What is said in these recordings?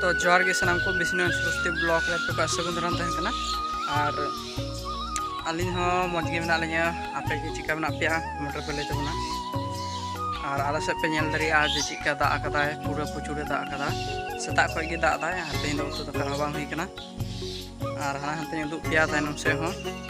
ᱛᱚ ᱡᱚᱦᱟᱨ ᱜᱮ ᱥᱟᱱᱟᱢ ᱠᱚ ᱵᱤᱥᱱᱩ ᱥᱨᱚᱥᱛᱤ ᱵᱞᱚᱜ ᱨᱮ ᱟᱯᱮ ᱠᱚ ᱥᱟᱹᱜᱩᱱ ᱫᱟᱨᱟᱢ ᱛᱟᱦᱮᱱ ᱠᱟᱱᱟ ᱟᱨ ᱟᱹᱞᱤᱧ ᱦᱚᱸ ᱢᱚᱡᱽ ᱜᱮ ᱢᱮᱱᱟᱜ ᱞᱤᱧᱟᱹ ᱟᱯᱮ ᱜᱮ ᱪᱮᱠᱟ ᱢᱮᱱᱟᱜ ᱯᱮᱭᱟ ᱠᱚᱢᱮᱱᱴ ᱨᱮᱯᱮ ᱞᱟᱹᱭ ᱛᱟᱵᱚᱱᱟ ᱟᱨ ᱟᱞᱮ ᱥᱮᱫ ᱯᱮ ᱧᱮᱞ ᱫᱟᱲᱮᱭᱟᱜᱼᱟ ᱡᱮ ᱪᱮᱫᱠᱟ ᱫᱟᱜ ᱟᱠᱟᱫᱟᱭ ᱯᱩᱨᱟᱹ ᱯᱨᱚᱪᱩᱨᱮ ᱫᱟᱜ ᱟᱠᱟᱫᱟ ᱥᱮᱛᱟᱜ ᱠᱷᱚᱱ ᱜᱮ ᱫᱟᱜ ᱮᱫᱟᱭ ᱟᱨ ᱛᱮᱦᱮᱧ ᱫᱚ ᱩᱛᱩ ᱫᱟᱠᱟ ᱦᱚᱸ ᱵᱟᱝ ᱦᱩᱭ ᱠᱟᱱᱟ ᱟᱨ ᱦᱟᱱᱟ ᱦᱟᱱᱛᱮᱧ ᱩᱫᱩᱜ ᱯᱮᱭᱟ ᱛᱟᱭᱱᱚᱢ ᱥᱮᱫ ᱦᱚᱸ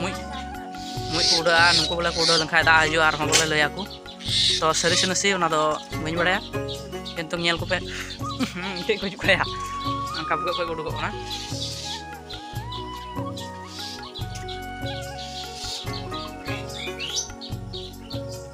ᱢᱩᱡ ᱢᱩᱡ ᱠᱚ ᱩᱰᱟᱹᱜᱼᱟ ᱱᱩᱠᱩ ᱵᱚᱞᱮ ᱠᱚ ᱩᱰᱟᱹᱣ ᱞᱮᱱᱠᱷᱟᱡ ᱫᱟᱜ ᱦᱤᱡᱩᱜᱼᱟ ᱟᱨᱦᱚᱸ ᱵᱚᱞᱮ ᱞᱟᱹᱭᱟᱠᱚ ᱛᱚ ᱥᱟᱹᱨᱤ ᱥᱮ ᱱᱟᱥᱮ ᱚᱱᱟ ᱫᱚ ᱵᱟᱹᱧ ᱵᱟᱲᱟᱭᱟ ᱠᱤᱱᱛᱩ ᱧᱮᱞ ᱠᱚᱯᱮ ᱢᱤᱫᱴᱮᱡ ᱠᱚ ᱦᱤᱡᱩᱜ ᱠᱟᱭᱟ ᱚᱱᱠᱟ ᱵᱷᱩᱜᱟᱹᱜ ᱠᱷᱚᱡ ᱠᱚ ᱩᱰᱩᱠᱚᱜ ᱠᱟᱱᱟ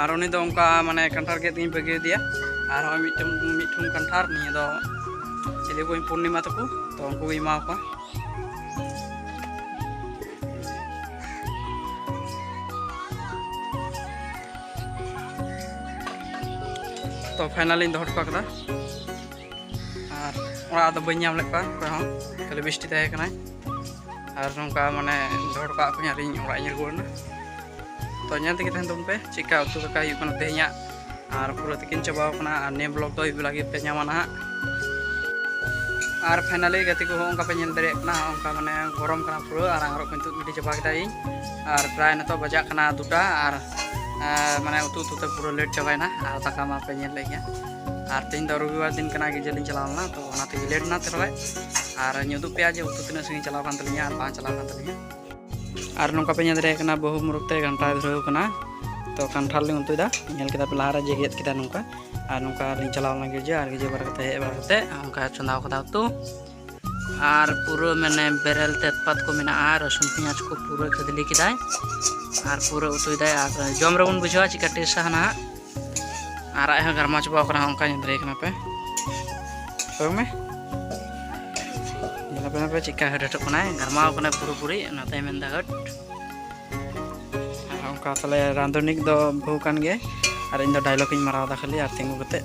ᱟᱨ ᱩᱱᱤ ᱫᱚ ᱚᱱᱠᱟ ᱢᱟᱱᱮ ᱠᱟᱱᱴᱷᱟᱲ ᱜᱮᱫ ᱤᱧ ᱵᱟᱹᱜᱤ ᱟᱫᱮᱭᱟ ᱟᱨ ᱦᱚᱸᱜᱼᱚᱭ ᱢᱤᱫᱴᱮᱱ ᱢᱤᱫᱴᱷᱩᱢ ᱠᱟᱱᱴᱷᱟᱲ ᱱᱤᱭᱟᱹ ᱫᱚ ᱪᱤᱞᱤ ᱵᱚᱧ ᱯᱩᱨᱱᱤᱢᱟ ᱛᱟᱠᱚ ᱛᱚ ᱩᱱᱠᱩ ᱜᱮ ᱮᱢᱟ ᱠᱚᱣᱟ ᱛᱚ ᱯᱷᱟᱭᱱᱟᱞᱤᱧ ᱫᱚᱦᱚ ᱦᱚᱴᱚ ᱠᱟᱫᱟ ᱟᱨ ᱚᱲᱟᱜ ᱫᱚ ᱵᱟᱹᱧ ᱧᱟᱢ ᱞᱮᱫ ᱠᱚᱣᱟ ᱚᱠᱚᱭ ᱦᱚᱸ ᱠᱷᱟᱹᱞᱤ ᱵᱤᱥᱴᱤ ᱛᱟᱦᱮᱸ ᱠᱟᱱᱟᱭ ᱟᱨ ᱱᱚᱝᱠᱟ ᱢᱟᱱᱮ ᱫᱚᱦᱚ ᱦᱚᱴᱚ ᱠᱟᱜ ᱠᱚᱣᱟᱧ ᱟᱨᱤᱧ ᱚᱲᱟᱜ ᱤᱧ ᱨᱩᱣᱟᱹᱲ ᱮᱱᱟ ᱛᱚ ᱧᱮᱞ ᱛᱮᱜᱮ ᱛᱟᱦᱮᱱ ᱛᱟᱵᱚᱱ ᱯᱮ ᱪᱮᱫᱠᱟ ᱩᱛᱩ ᱫᱟᱠᱟ ᱦᱩᱭᱩᱜ ᱠᱟᱱᱟ ᱛᱮᱦᱮᱧᱟᱜ ᱟᱨ ᱯᱩᱨᱟᱹ ᱛᱤᱠᱤᱱ ᱪᱟᱵᱟᱣ ᱠᱟᱱᱟ ᱟᱨ ᱱᱤᱭᱟᱹ ᱵᱞᱚᱜ ᱫᱚ ᱟᱹᱭᱩᱵ ᱵᱮᱞᱟ ᱜᱮᱯᱮ ᱧᱟᱢᱟ ᱱᱟᱦᱟᱜ ᱟᱨ ᱯᱷᱟᱭᱱᱟᱞᱤ ᱜᱟᱛᱮ ᱠᱚᱦᱚᱸ ᱚᱱᱠᱟ ᱯᱮ ᱧᱮᱞ ᱫᱟᱲᱮᱭᱟᱜ ᱠᱟᱱᱟ ᱚᱱᱠᱟ ᱢᱟᱱᱮ ᱜᱚᱨᱚᱢ ᱠᱟᱱᱟ ᱯᱩᱨᱟᱹ ᱟᱨ ᱟᱝᱨᱚᱵ ᱠᱚᱧ ᱛᱩᱫ ᱜᱤᱰᱤ ᱪᱟᱵᱟ ᱠᱮᱫᱟ ᱤᱧ ᱟᱨ ᱯᱨᱟᱭ ᱱᱤᱛᱚᱜ ᱵᱟᱡᱟᱜ ᱠᱟᱱᱟ ᱫᱩᱴᱟ ᱟᱨ ᱢᱟᱱᱮ ᱩᱛᱩ ᱩᱛᱩ ᱛᱮ ᱯᱩᱨᱟᱹ ᱞᱮᱴ ᱪᱟᱵᱟᱭᱮᱱᱟ ᱟᱨ ᱫᱟᱠᱟ ᱢᱟᱯᱮ ᱧᱮᱞ ᱞᱮᱫ ᱜᱮᱭᱟ ᱟᱨ ᱛᱮᱦᱮᱧ ᱫᱚ ᱨᱚᱵᱤᱵᱟᱨ ᱫᱤᱱ ᱠᱟᱱᱟ ᱜᱤᱡᱮ ᱞᱤᱧ ᱪᱟᱞᱟᱣ ᱞᱮᱱᱟ ᱛᱚ ᱚᱱᱟᱛᱮ ᱞᱮᱴ ᱮᱱᱟ ᱛᱮᱨᱚᱭ ᱟᱨ ᱧᱩᱫᱩᱜ ᱯᱮᱭᱟ ᱡᱮ ᱩᱛᱩ ᱛᱤᱱᱟᱹᱜ ᱥᱟᱺᱜᱤᱧ ᱪᱟᱞᱟᱣ ᱠᱟᱱ ᱛᱟᱹᱞᱤᱧᱟ ᱟᱨ ᱵᱟᱝ ᱪᱟᱞᱟᱣ ᱠᱟᱱ ᱛᱟᱹᱞᱤᱧᱟ ᱟᱨ ᱱᱚᱝᱠᱟ ᱯᱮ ᱧᱮᱞ ᱫᱟᱲᱮᱭᱟᱜ ᱠᱟᱱᱟ ᱵᱟᱹᱦᱩ ᱢᱩᱨᱩᱠ ᱛᱮ ᱜᱷᱟᱱᱴᱟᱭ ᱫᱷᱩᱨᱟᱹᱣ ᱠᱟᱱᱟ ᱛᱚ ᱠᱟᱱᱴᱷᱟᱲ ᱞᱤᱧ ᱩᱛᱩᱭᱮᱫᱟ ᱧᱮᱞ ᱠᱮᱫᱟ ᱯᱮ ᱞᱟᱦᱟᱨᱮ ᱡᱮ ᱜᱮᱫ ᱠᱮᱫᱟ ᱱᱚᱝᱠᱟ ᱟᱨ ᱱᱚᱝᱠᱟ ᱞᱤᱧ ᱪᱟᱞᱟᱣ ᱞᱮᱱᱟ ᱜᱤᱡᱮ ᱟᱨ ᱜᱤᱡᱮ ᱵᱟᱨᱟ ᱠᱟᱛᱮ ᱦᱮᱡ ᱵᱟᱲᱟ ᱠᱟᱛᱮ ᱚᱱᱠᱟ ᱪᱚᱸᱫᱟᱣ ᱠᱟᱫᱟ ᱩᱛᱩ ᱟᱨ ᱯᱩᱨᱟᱹ ᱢᱟᱱᱮ ᱵᱮᱨᱮᱞ ᱛᱮᱡᱽᱯᱟᱛ ᱠᱚ ᱢᱮᱱᱟᱜᱼᱟ ᱨᱟᱹᱥᱩᱱ ᱯᱮᱸᱭᱟᱡᱽ ᱠᱚ ᱯᱩᱨᱟᱹ ᱠᱷᱟᱫᱽᱞᱤ ᱠᱮᱫᱟᱭ ᱟᱨ ᱯᱩᱨᱟᱹ ᱩᱛᱩᱭᱮᱫᱟᱭ ᱟᱨ ᱡᱚᱢ ᱨᱮᱵᱚᱱ ᱵᱩᱡᱷᱟᱹᱣᱟ ᱪᱤᱠᱟ ᱴᱮᱥᱴᱟ ᱦᱟᱱᱟᱜ ᱟᱨ ᱟᱡ ᱦᱚᱸ ᱜᱟᱨᱢᱟ ᱪᱟᱵᱟᱣ ᱠᱟᱱᱟ ᱚᱱᱠᱟ ᱧᱮᱞ ᱫᱟᱲᱮᱭᱟᱜ ᱠᱟᱱᱟ ᱯᱮ ᱠᱚᱭᱚᱜ ᱢᱮ ᱧᱮᱞ ᱯᱮ ᱯᱮ ᱪᱤᱠᱟ ᱦᱟᱹᱴ ᱦᱟᱹᱴᱚᱜ ᱠᱟᱱᱟᱭ ᱜᱟᱨᱢᱟᱣ ᱠᱟᱱᱟᱭ ᱯᱩᱨᱟᱹᱯᱩᱨᱤ ᱚᱱᱟᱛᱮᱭ ᱢᱮᱱᱫᱟ ᱦᱟᱹᱴ ᱟᱨ ᱚᱱᱠᱟ ᱛᱟᱦᱞᱮ ᱨᱟᱸᱫᱷᱩᱱᱤ ᱫᱚ ᱵᱟᱹᱦᱩ ᱠᱟᱱ ᱜᱮᱭᱟᱭ ᱟᱨ ᱤᱧ ᱫᱚ ᱰᱟᱭᱞᱚᱜᱽ ᱤᱧ ᱢᱟᱨᱟᱣ ᱮᱫᱟ ᱠᱷᱟᱹᱞᱤ ᱟᱨ ᱛᱤᱸᱜᱩ ᱠᱟᱛᱮᱫ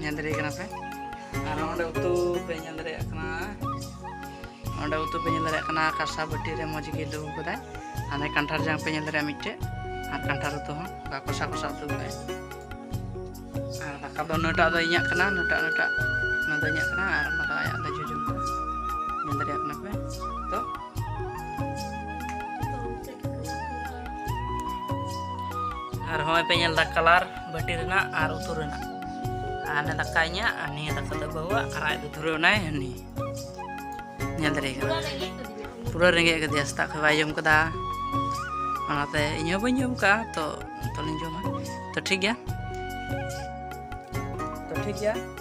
ᱧᱮᱞ ᱫᱟᱲᱮᱭᱟᱜ ᱠᱟᱱᱟ ᱯᱮ ᱟᱨ ᱚᱸᱰᱮ ᱩᱛᱩ ᱯᱮ ᱧᱮᱞ ᱫᱟᱲᱮᱭᱟᱜ ᱠᱟᱱᱟ ᱚᱸᱰᱮ ᱩᱛᱩ ᱯᱮ ᱧᱮᱞ ᱫᱟᱲᱮᱭᱟᱜ ᱠᱟᱱᱟ ᱠᱟᱥᱟ ᱵᱟᱹᱴᱤ ᱨᱮ ᱢᱚᱡᱽ ᱜᱮ ᱫᱩᱲᱩᱵ ᱠᱟᱫᱟᱭ ᱟᱨ ᱠᱟᱱᱴᱷᱟᱲ ᱡᱟᱝ ᱯᱮ ᱧᱮᱞ ᱫᱟᱲᱮᱭᱟᱜᱼᱟ ᱢᱤᱫᱴᱮᱡ ᱟᱨ ᱠᱟᱱᱴᱷᱟᱲ ᱩᱛᱩ ᱦᱚᱸ ᱚᱱᱠᱟ ᱠᱚᱥᱟ ᱠᱚᱥᱟ ᱩᱛᱩ ᱠᱟᱫᱟᱭ ᱟᱨ ᱫᱟᱠᱟ ᱫᱚ ᱱᱩᱭᱴᱟᱜ ᱫᱚ ᱤᱧᱟᱹᱜ ᱠᱟᱱᱟ ᱱᱩᱭᱴᱟᱜ ᱱᱩᱭᱴᱟᱜ ᱚᱱᱟ ᱫᱚ ᱤᱧᱟᱹᱜ ᱠᱟᱱᱟ ᱟᱨ ᱚᱱᱟ ᱫᱚ ᱟᱭᱟᱜ ᱫᱚ ᱡᱚᱡᱚᱢ ᱠᱟᱱᱟ ᱧᱮᱞ ᱫᱟᱲᱮᱭᱟᱜ ᱠᱟᱱᱟ ᱯᱮ ᱛᱚ ᱟᱨ ᱦᱚᱸᱜᱼᱚᱭ ᱯᱮ ᱧᱮᱞ ᱫᱟ ᱠᱟᱞᱟᱨ ᱵᱟᱹᱴᱤ ᱨᱮᱱᱟᱜ ᱟᱨ ᱩᱛᱩ ᱨᱮᱱᱟᱜ ᱟᱨ ᱦᱟᱱᱮ ᱫᱟᱠᱟ ᱤᱧᱟᱹᱜ ᱟᱨ ᱱᱤᱭᱟᱹ ᱫᱟᱠᱟ ᱫᱚ ᱵᱟᱹᱦᱩᱣᱟᱜ ᱟᱨ ᱟᱡ ᱫᱚ ᱫᱷᱩᱨᱟᱹᱣ ᱮᱱᱟᱭ ᱦᱟᱹᱱᱤ ᱧᱮᱞ ᱫᱟᱲᱮ ᱠᱟᱱᱟ ᱯᱩᱨᱟᱹ ᱨᱮᱸᱜᱮᱡ ᱠᱟᱫᱮᱭᱟ ᱥᱮᱛᱟᱜ ᱠᱷᱚᱱ ᱵᱟᱭ ᱡᱚᱢ ᱠᱟᱫᱟ ᱚᱱᱟᱛᱮ ᱤᱧ ᱦᱚᱸ ᱵᱟᱹᱧ ᱡᱚᱢ ᱠᱟᱜᱼᱟ ᱛᱚ ᱛᱚᱞᱤᱧ ᱡᱚᱢᱟ ᱛᱚ ᱴᱷᱤᱠ ᱜᱮᱭᱟ ᱛᱚ ᱴᱷᱤᱠ ᱜᱮᱭᱟ